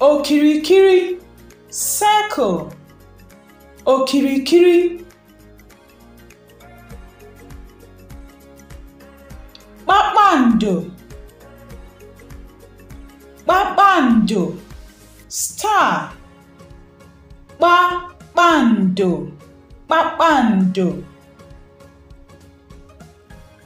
okirikiri circle okirikiri kpakpando kpakpando star kpakpando kpakpando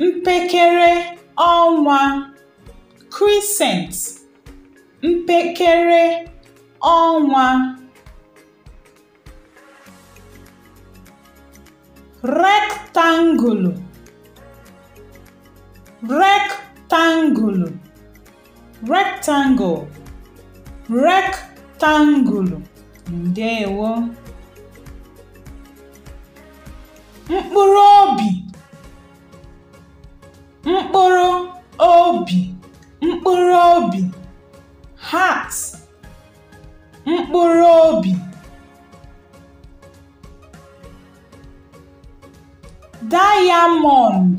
mpekere ọnwa crescent mpekere ọnwa rektangulu rektangulu rectangle rektangulu ndewo mkpụrụ obi mkpụrụ obi mkpụrụ obi heart mkpụrụ obi diamond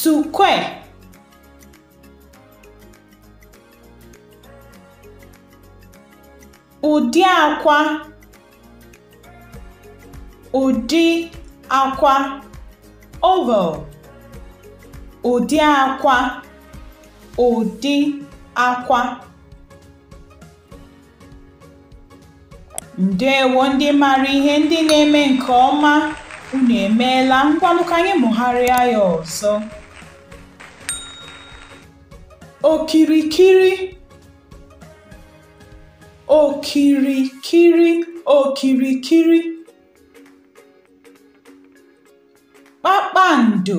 sukwe ụdị akwa ụdị akwa oval ụdị akwa ụdị akwa ndewo ndị mara ihe ndị na-eme nke ọma unu emeela ngwanụ ka anyị mụgharịa ya ọzọ okirikiri okirikiri okirikiri kpakpando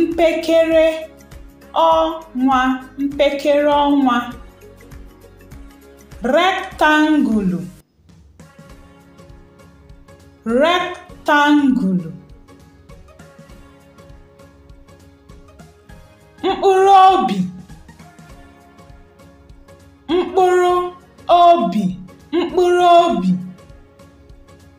mpekere ọnwa mpekere ọnwa rektangulu rektangulu mkpụrụ obi mkpụrụ obi mkpụrụ obi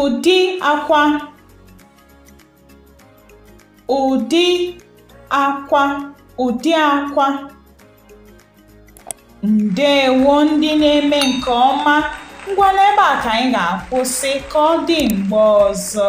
Ụdị akwa ụdị akwa ụdị akwa ndewo ndị na-eme nke ọma ngwa n'ebe a ka anyị ga-akwụsị ka ọ dị mgbe ọzọ